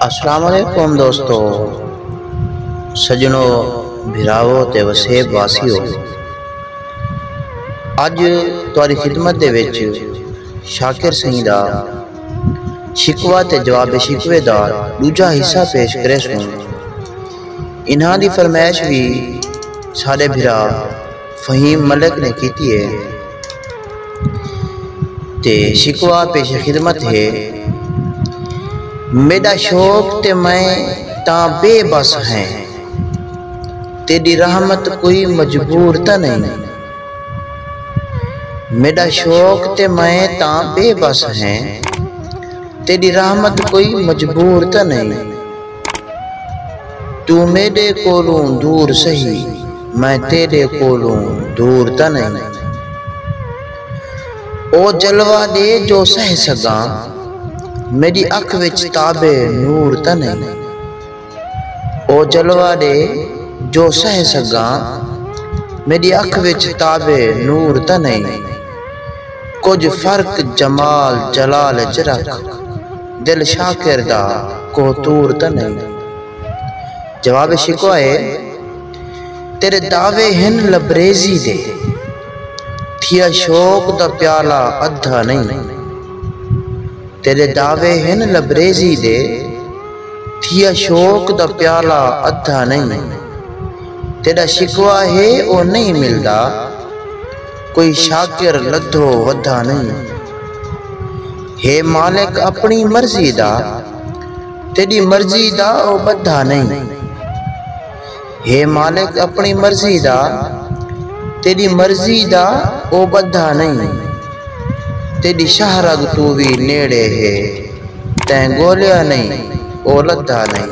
السلام علیکم دوستو سجنو بھراو تے وسیب واسیو اج تاری خدمت دے وچ شاکر سنگھ دا شکوہ تے جواب شکوے دا دوجا حصہ پیش کرے سوں انہاں دی فرمائش بھی سارے بھرا فہیم ملک نے کیتی ہے تے شکوہ پیش خدمت ہے میݙا شوق تے میں تاں بے بس ہیں تیݙی رحمت کوئی مجبور تاں نئیں میݙا شوق تے میں تاں بے بس ہیں تیݙی رحمت کوئی مجبور تاں نئیں توں میݙے کولوں دور سہی میں تیݙے کولوں دور تاں نئیں او جلوہ ݙے جو سہہ سڳاں میݙی اکھ وچ تاب نور تاں نئیں او جلوہ ݙے جو سہہ سڳاں میݙی اکھ وچ تاب نور تاں نئیں۔ کجھ فرق جمال جلال اچ رکھ دل شاکر دا کوہ طور تاں نئیں جواب شکوہ اے تیڈے دعوے ہن لبریزی دے تھیا شوق دا پیالہ ادھا نئیں تیڈے دعوے ہن لبریزی دے تھیا شوق دا پیالہ ادھا نئیں تیڈا شکوہ اے او نئیں ملدا۔ کوئی شاکر لدھو ودھا نئیں۔ ہے مالک اپݨی مرضی دا۔ تیݙی مرضی دا او ٻدھا نئیں۔ ہے مالک اپݨی مرضی دا۔ تیݙی مرضی دا او ٻدھا نئیں۔ تیݙی شہرگ توں وی نیڑے ہے۔ تیں ڳولیا نئیں او لدھا نئیں۔